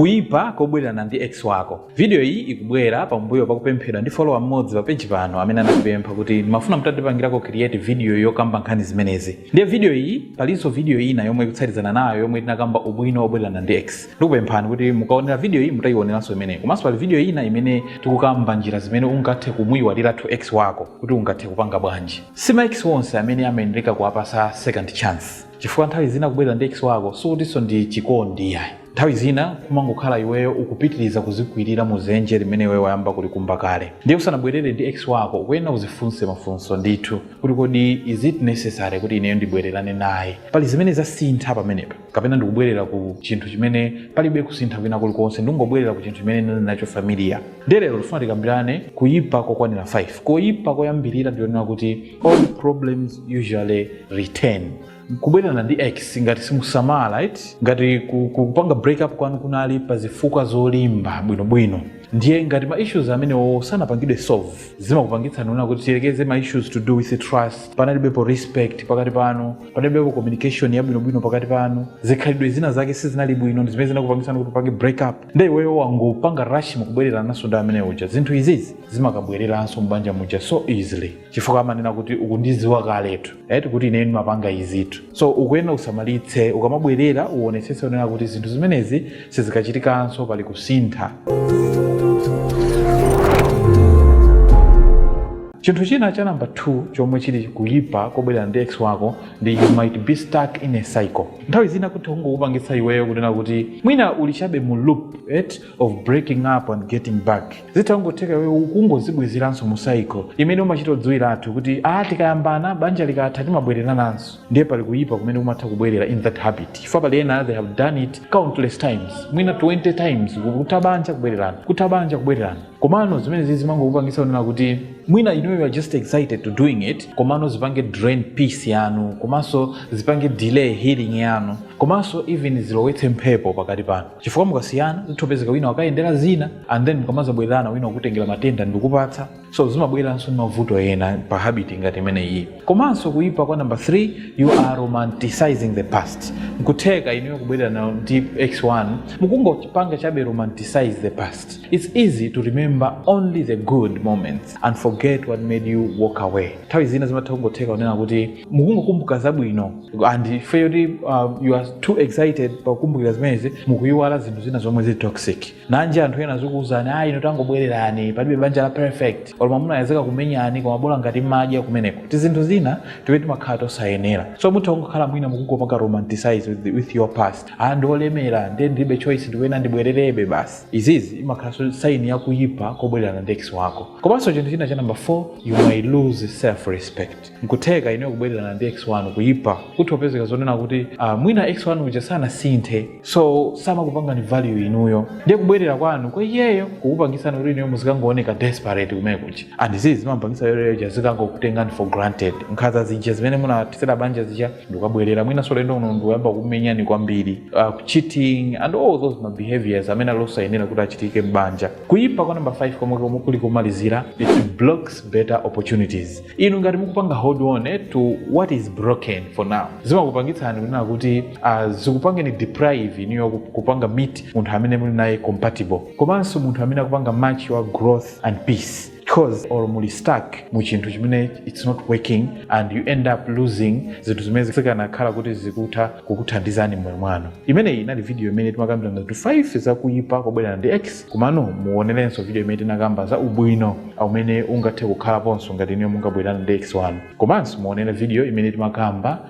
Kuipa kobwelelana ndi ex wako. Vidiyo iyi ikubwela pambuyo pa kupemphedwa ndi follower mmodzi pa page pano amene anatipempha kuti, Ndimafuna mutandipangilako create vidiyo yokamba nkhani zimenezi. Ndiye vidiyo iyi, palinso vidiyo ina yomwe ikutsatizana nayo yomwe tinakamba ubwino wobwelelana ndi ex. Ndikupemphani kuti mukaonela vidiyo iyi mutaionelanso imeneyi. Komanso pali vidiyo ina imene tikukamba njila zimene ungathe kumuiwalilatu ex wako kuti ungathe kupanga bwanji. Si ma ex onse amene amayeneleka kuwapasa second chance. Chifukwa nthawi zina kubwelera ndi ex wako sikutinso ndi chikondi iyayi. Nthawi zina kumangokhala iweyo ukupitiliza kuzikwilira mu zenje limene iweyo wayamba kulikumba kale. Ndiye usanabwelere ndi ex wako ukuyenera uzifunse mafunso ndithu kuti kodi is it necessary kuti ineyo ndibwelerane naye? Pali zimene zasintha pamenepa? Kapena ndikubwelera ku chinthu chimene palibe kusintha kwina kulikonse ndikungobwelera ku chinthu chimene ndinali nacho familiar? Ndiye lero tifuna tikambilane kuyipa kokwanira 5. Koyipa koyambilira ndi konena kuti. old problems usually return kubwererana ndi ex ngati simusamala right ngati ku- ku- kupanga break up kwanu kunali pa zifukwa zolimba bwinobwino ndiye ngati ma issues amenewo sanapangidwe solve zimakupangitsani kunena kuti tiyerekeze ma issues to do with trust panalibepo respect pakati panu panalibepo communication yabwinobwino pakati panu zikhalidwe zina zake sizinali bwino ndi zimene zinakupangitsani kuti upange break up nde iweyo wangopanga rush mukubwererananso ndi amene uja zinthu izizi zimakabwereranso mbanja muja so easily chifukwa amanena kuti ukundiziwa kaletu eti kuti ineyo ndimapanga izitu so ukuyenera usamalitse ukamabwerera uonetsetse unena kuti zinthu zimenezi sizikachitikanso pali kusintha chinthu china cha namba 2 chomwe chili kuyipa kobwerera ndi ex wako ndi you might be stuck in a cycle nthawi zina kutha kungokupangitsa iweyo kunena kuti mwina uli chabe mu loop eti of breaking up and getting back zitha kungotheka iweyo ukungozibwezeranso mu cycle imene umachita kudziwiratu kuti a tikayambana banja likatha timabwererananso ndiye pali kuyipa kumene kumatha kubwerera in that habit chifukwa pali ena they have done it countless times mwina 20 times kutha banja kubwererana kutha banja kubwererana komano zimenezi zimangokupangisa kunena kuti mwina inuyo you are just excited to doing it komano zipange drain peace yanu komanso zipange delay healing yanu komanso even zilowetse mphepo pakati panu chifukwa mukasiyana zithopezeka wina wakayendera zina and then mukamazabwererana wina wakutengera matenda ndikupatsa so zimabweranso ndi mavuto ena pa habit ngati imeneyi komanso kuyipa kwa number 3 you are romanticizing the past nkutheka inuyo kubwererana ndi ex wanu mukungopanga chabe romanticize the past It's easy to remember only the good moments and forget what made you walk away. Nthawi zina zimatha kungotheka kunena kuti mukungokumbuka zabwino and ifeyo kuti um, you are too excited pakukumbukira zimenezi mukuyiwala zinthu zina zomwe zili toxic. Nanji anthu ena azikuwuzani ayi inu tangobwererani palibe banja la perfect olo mwamunayo azikakumenyani koma bola ngati madya kumeneko. Ti zinthu zina tiwe timakhala tosayenera. So mutha kungokhala mwina mukungopanga romanticize with, the- with your past. ah ndiolemera nde ndilibe choice ndikuyenera ndibwererebe basi izizi imakhala saini yakuyipa kobwererana ndi ex wako komanso chinthu china cha namba 4 you may lose self respect nkutheka inuyo kubwererana ndi ex wanu kuyipa kutha opezeka zonena kuti ah, mwina ex wanu uja sanasinthe so samakupangani value inuyo ndiye kubwerera kwanu kwa iyeyo kukupangisani kuti inuyo muzikangooneka desperate kumenekuja and izizi zimapangisa iyeyo uja azikangokutengani for granted nkhaza zija zimene munathetsera banja zija mukabwerera mwinanso ulendo uno ndikuyamba kukumenyani kwambiri uh, cheating and all those ma behaviors amene ali osayenera kuti achitike m'banja kuyipa kwa namba 5 komwe komwe kuli komalizira it blocks better opportunities inu ngati mukupanga hold on eh, to what is broken for now zimakupangitsani kunena kuti uh, zikupangeni deprive inuyo ku- kupanga meet munthu amene muli naye compatible komanso munthu amene akupanga match your growth and peace coz you muli stuck mu chinthu chimene its not working and you end up losing zinthu zimene zikanakhala kuti zikutha kukuthandizani mmoyo mwanu imeneyi inali video imene timakambirana zinthu 5 zakuyipa kobwererana ndi x komano muonerenso video imene tinakamba za ubwino umene ungathe kukhalaponso ngati inuyo mungabwererane ndi x wanu komanso muonere video imene timakamba